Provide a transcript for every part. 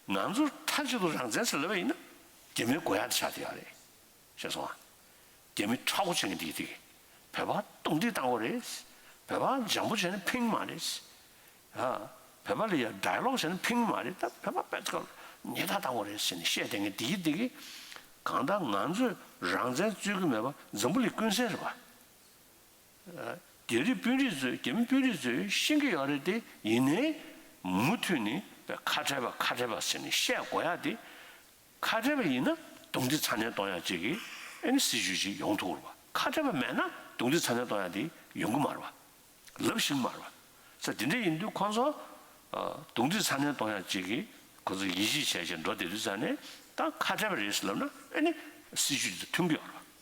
ང་ཚོ་མཐའ་གཅིག་ཏུ་རང་བཙན་ཟེར་སླ་བས་ཡིན་ན་རྒྱ་མིའི་དགོས་ཡག་དེ་བྱ་དེ་ཡག་རེད། ཤེས་སོང་ཨ། རྒྱ་མི་ཁྲག་འགོ་བྱེད་མཁན་དེ་དེ། བོད་པ་སྟོང་སྒྲིག་བཏང་བ་རེད། བོད་པ་འཇམ་པོ་བྱས་ན་ཕན་གྱི་མ་རེད། ཨ། བོད་པ་ལ་ཡང་སྒྲ་ལོག་བྱས་ན་ཕན་གྱི་མ་རེད། བོད་པ་པད་དཀར་ཉེས་རྟགས་བཏང་བ་རེད་ཟེར་ནས་བཤད་བསྡད་མཁན་དེ་དེ། གང་ལྟར་ང་ཚོས་རང་བཙན་རྩོད་ཀྱི་མེད་པ་འཛམ་བུ་གླིང་ཀུན་གསལ་རེད་པ། རྒྱ་རིགས་དཔོན་རིགས་ཚོས་རྒྱ་མི་དཔོན་རིགས་ཚོས་ཤེས་ཀྱི་ཡོད་རེད་དེ་ཡིན་ནའི། མུ་མཐུད་ནས་ཁ་བྲལ་བ་ཁ་བྲལ་བ་ཟེར་ནས་བཤད་དགོས་ཡ་དེ། ཁ་བྲལ་བ་ཡིན་ན་རྡུང་རྡེག་ཚ་ནན་གཏོང་ཡ་བཅས་ཀྱི་ཨེམ་སྲིད་ཇུས་ཤིག་ཡོང་ཐུག་རུ་བ་ཁ་བྲལ་བ་མེད་ན་རྡུང་རྡེག་ཚ་ནན་གཏོང་ཡ་དེ་ཡོང་གི་མ་རུ་བ། ལབ་བཞིན་མ་རུ་བ། ཚ་དེ་འདྲ་ཡིན་དུས་ཁོང་ཚོ། རྡུང་རྡེག་ཚ་ནན་གཏོང་ཡ་བཅས་ཀྱི་ཁོང་ཚོ་ཡིད་ཆེས་བྱས་བྱས་འགྲོ་བསྡད་དུས་ཚ་ནན་ད་ཁ་བྲལ་བ་རེད་ཟེར་ལབ་ན་ཨེ་ནི་སྲིད་ཇུས་འདི་མཐུན་གྱི་ཡོད་རུ་བ།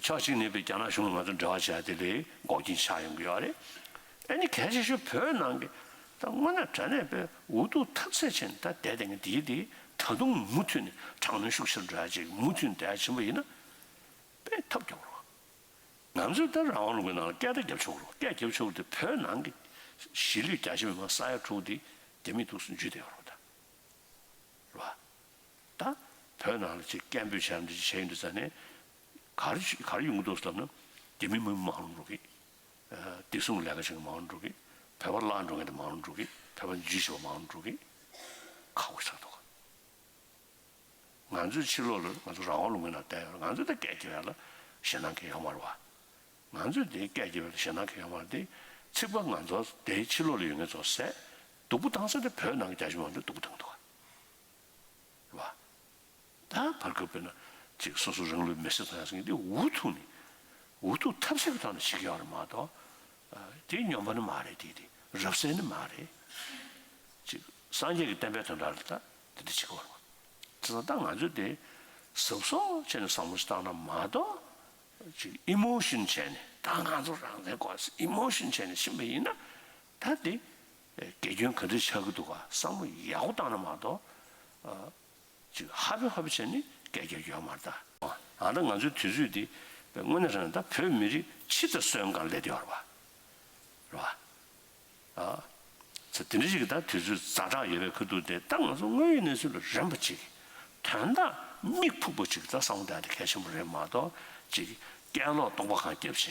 ཕྱོགས་གཅིག་ནས་བོད་རྒྱ་ནག་གཞུང་ལ་ང་ཚོ་འབྲེལ་བ་བྱས་ཏེ་ལས་འགོ་རྐྱེན་ཆགས་ཡོང་གི་ཡོད་རེད། ཨ་ནི་གལ་ཆེ་ཤོས་བོད་ནང་གི་ད་སྔོན་ན་དྲ་གནས་པའི་འུ་ཐུག་ཐབས་ཟད་ཆེ་ནས་ད་ལྟའི་དེ་སྔའི་དེའི་དེ་ད་དུང་མུ་མཐུད་ནས་དྲག་གནོན་ཤུགས་ཆེར་འགྲོ་ཡ་བྱེད་ཀྱི་མུ་མཐུད་ནས་འགྲོ་ཡ་བྱེད་པ་ཡིན་ན་དཔེ་ཐབས་རྒྱབ་རོགས། ང་ཚོས་ད་རང་དབང་ལུང་པའི་ནང་ལ་སྐད་བརྡ་རྒྱབ་ཆོག་རོགས་སྐད་རྒྱབ་ཆོག་དེ་བོད་ནང་གི་གཞིས་ལུས་རྒྱ་ཆེ་མི་མང་ས་ཡ་དྲུག་དེ་རྒྱ་མི་གཏུགས་སུ་འཇུས་ཏེ་ཡོད་རོགས་ད། རེད་བ། ད་བོད་ནང་ལ་ཆེས་སྐད་འབོད་བྱས་ནས་བྱས་ཡོད་འདུག་ས་ནས། གར་གར་ཡོང་གི་འདུག་ཟེར་ན། དེ་མིན་མི་མང་རུང་འགྲོ་གི། བདེ་སྲུང་གི་ལས་ཀ་བྱེད་མཁན་མང་རུང་འགྲོ་གི། བོད་པ་བརླག་འགྲོ་མཁན་དེ་མང་རུང་འགྲོ་གི། བོད་པ་འཇུས་བྱེད་པ་མང་རུང་འགྲོ་གི། ཁག་པོ་ཆགས་འདུག་ག། ང་ཚོའི་ཕྱི་ལོག་ལ་ང་ཚོ་རང་དབང་ལུང་པའི་ནང་བསྡད་ཡོད་ང་ཚོ་དེ་སྐད་བགྱི་བས་ལ་ཞེ་སྣང་གི་ཡོད་མ་རུང་བ། ང་ཚོས་དེ་སྐད་བགྱི་བས་ལ་ཞེ་སྣང་གི་ཡོད་མ་རུང་དེ། ཚིག་པ་ང་ཚོ་དེ་ཕྱི་ལོག་ལ་ཡོད་མཁན་ཚོ་སད་སྡུག་པོ་བཏང་ས་དེ་བོད་ནང་གི་རྒྱ་གཞུང་མང་པོ་སྡུག་པོ་བཏང་གི་འདུག་ག། བ། ད་བར་གྱི་དཔེར་ན་ཅིག་སོ་སོ་རང་ལུས་མེ་སྲེག་ཐོག་ཡང་སྲིད་འདི་འུ་ཐུག་ནས་འུ་ཐུག་ཐབས་ཟད་ཀྱི་ཐོག་ནས་བྱེད་ཀྱི་ཡོད་རེད་མ་གཏོགས་དེ་སྙོམས་པ་ནི་མ་རེད་དེ་དེ་རབ་གསལ་ནི་མ་རེད། ཅིག་སངས་རྒྱས་ཀྱི་བསྟན་པའི་དོན་དག་རེད་ད་དེ་འདྲ་བྱེད་ཀྱི་ཡོད་རེད་མ་གཏོགས་ད་ང་ཚོས་དེ་ཟབ་སོ་བྱས་ནས་བཟང་པོ་ཞིག་བཏང་ན་མ་གཏོགས་ཅིག Emotion བྱས་ནས་ད་ང་ཚོ་རང་བཙན་དགོས་ཟེར Emotion བྱས་ནས་ཕྱིན་པ་ཡིན་ན་ད་དེ་དགེ་སྐྱོན་ག་འདྲས་ཆགས་ཀྱི་འདུག་ག་བསམ་བློ་ཡག་པོ་བཏང་ན་མ་གཏོགས། ཅིག་ཧ་པེ་ཧ་པེ་བྱས་ནས་སྐད་རྒྱག་རྒྱུ་ཡང་མ་རེད་ད། ཨ་ད་ང་ཚོའི་དུས་ཚོད་འདི་དངོས་གནས་རང་ད་བོད་མི་རིགས་ཕྱི་ད་སོན་གང་ལས་དེ་བ་རེད་བ། ཨ། ཚ་དེ་འདྲས་ཅིག་གི་ད་དུས་ཚོད་ཛ་དྲག་ཡོད་པའི་ཁུ་འདུག་དེ་ད་ང་ཚོ་དངོས་ཡོད་གནས་ཚུལ་ལ་རན་པ་ཅིག་དོན་དག་དམིགས་ཕུགས་པ་ཅིག་གི་ད་བསམ་བློ་བཏང་དེ་གལ་ཆེན་པོ་རེད་མ་གཏོགས་ཅིག་སྐད་ལོག་རྟོག་པ་གང་རྒྱབ་བྱས་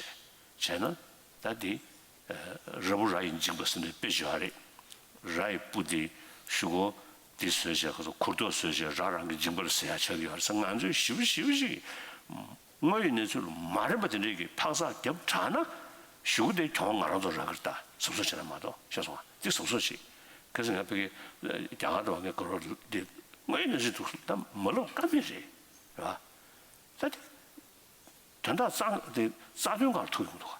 བྱས་ན་ད་དེ་ར་བུ་ར་ཡི་འཇིགས་པ་སེམས་པའི་དཔེ་བྱེད་བ་རེད། ར་ཡི་སྤུ་དེ་གཞུག་གོ། དེ་ཟོས་རྗེས་ཁོ་ཚོ་ཁུར་ཐོག་ཟོས་རྗེས་ར་རང་གི་འཇིགས་པ་ལ་ཟེར་ཡག་ཆགས་ཀྱི་ཡོད་རེད། ང་ཚོས་ཞིབ་ཞིབ་ཞིག་དངོས་ཡོད་གནས་ཚུལ་མ་རེད་པ་དེ་འདྲའི་གི་འཕག་འཚག་རྒྱབ་དྲགས་ན། གཞུག་དེ་གྱོང་ང་རང་ཚོ་ར་གིར་བལྟ་ཟབ་ཟོབ་བྱེད་ན་མ་གཏོགས་ཤེས་སོང་ང་འདི་ཟབ་ཟོབ་བྱེད། གལ་སྲིད་ང་ཕི་གེ་རྒྱ་གར་དུ་བ་ངའི་གོ་རོ་འདི་དངོས་ཡོད་གནས་ཚུལ་འདུག་ད་མ་ལོག་ཀ་མེད་རེད། རེད་བ། ད་དེ། དོན་དག་རྩ་དེ་རྩ་དོན་གང་ཐུག་ཡོང་འདུག་ག།